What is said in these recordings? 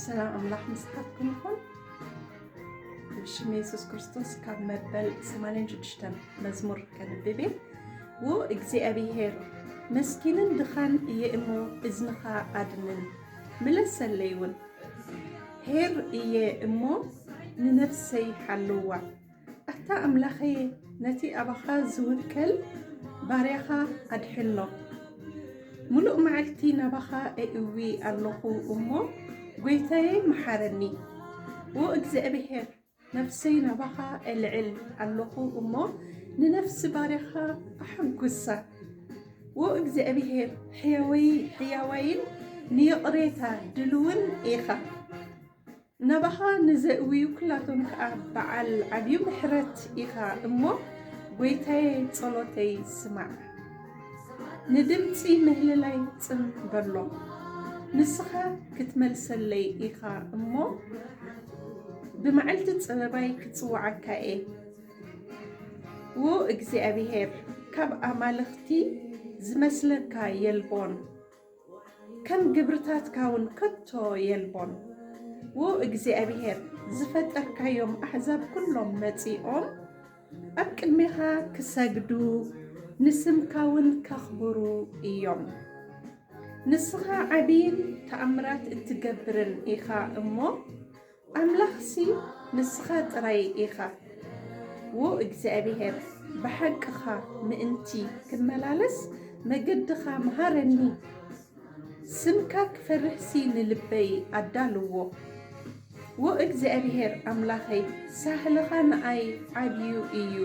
ሰላም ኣምላኽ ምስሓትኩም ይኹን። ብሽም የሱስ ክርስቶስ ካብ መበል 86 መዝሙር ከንብብ እየ። ው እግዚኣብሄር መስኪንን ድኻን እየ እሞ እዝንኻ ኣድንን ምለሰለይ እውን ሄር እየ እሞ ንነፍሰይ ሓልዋ ኣታ ኣምላኸየ ነቲ ኣባኻ ዝውከል ባርያኻ ኣድሕኖ። ምሉእ መዓልቲ ናባኻ ኤእዊ ኣሎኹ እሞ ጎይታየይ መሓረኒ። ኦ እግዚኣብሄር ነፍሰይ ናባኻ ኤልዕል ኣሎኹ እሞ ንነፍሲ ባርያኻ ኣሐጉሳ። ኦ እግዚኣብሄር ሕያወይ ሕያዋይን ንይቕሬታ ድልውን ኢኻ። ናባኻ ንዘእውዩ ኩላቶም ከኣ በዓል ዓብዩ ምሕረት ኢኻ እሞ ጎይታየ ጸሎተይ ስማዕ ንድምጺ ምህልላይ ጽን በሎ ንስኻ ክትመልሰለይ ኢኻ እሞ ብመዓልቲ ጸበባይ ክጽውዓካ'የ ዎ እግዚኣብሄር ካብ ኣማልኽቲ ዝመስለካ የልቦን። ከም ግብርታትካ ውን ከቶ የልቦን። ው እግዚኣብሄር ዝፈጠርካዮም ኣሕዛብ ኩሎም መጺኦም ኣብ ቅድሜኻ ክሰግዱ ንስምካ ውን ከኽብሩ እዮም። ንስኻ ዓቢይን ተኣምራት እትገብርን ኢኻ እሞ ኣምላኽሲ ንስኻ ጥራይ ኢኻ። ዎ እግዚኣብሄር ብሓቅኻ ምእንቲ ክመላለስ መገድኻ ምሃረኒ ስምካ ክፈርህሲ ንልበይ ኣዳልዎ ዎ እግዚኣብሄር ኣምላኸይ ሳህልኻ ንኣይ ዓብዩ እዩ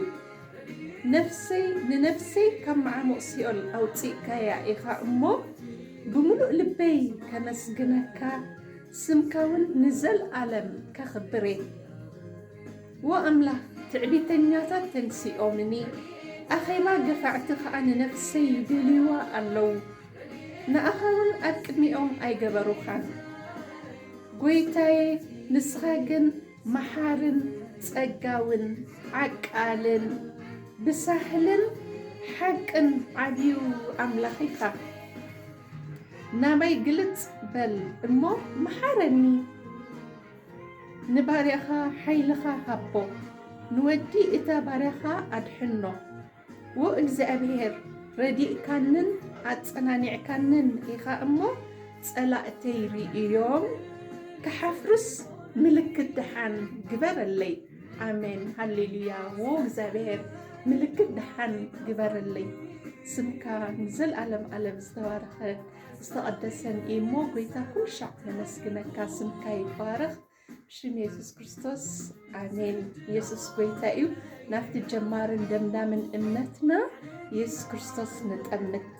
ነፍሰይ ንነፍሰይ ካብ መዓሙቕ ሲኦል ኣውጺእካያ ኢኻ እሞ ብምሉእ ልበይ ከመስግነካ ስምካ ውን ንዘልኣለም ከኽብርየ ዎ ኣምላኽ ትዕቢተኛታት ተንሲኦምኒ ኣኼባ ገፋዕቲ ከኣ ንነፍሰይ ይደልይዋ ኣለዉ ንኣኻ ውን ኣብ ቅድሚኦም ኣይገበሩኻን ጎይታየ ንስኻ ግን መሓርን ጸጋውን ዓቃልን ብሳህልን ሓቅን ዓብዩ ኣምላኽ ኢኻ። ናበይ ግልጽ በል እሞ መሓረኒ። ንባርያኻ ሓይልኻ ሃቦ፣ ንወዲ እታ ባርያኻ ኣድሕኖ። ዎ እግዚኣብሄር፣ ረዲእካንን ኣጸናኒዕካንን ኢኻ እሞ፣ ጸላእተይ ርእዮም ክሓፍሩስ ምልክት ደሓን ግበረለይ። ኣሜን ሃሌሉያ ው እግዚኣብሔር ምልክት ድሓን ግበረለይ ስምካ ንዘለኣለም ኣለም ዝተባረኸ ዝተቐደሰን እዩ እሞ ጎይታ ኩሉ ሻዕ ነመስግነካ ስምካ ይባረኽ ሽም የሱስ ክርስቶስ ኣሜን። የሱስ ጎይታ እዩ። ናብቲ ጀማርን ደምዳምን እምነትና የሱስ ክርስቶስ ንጠምት።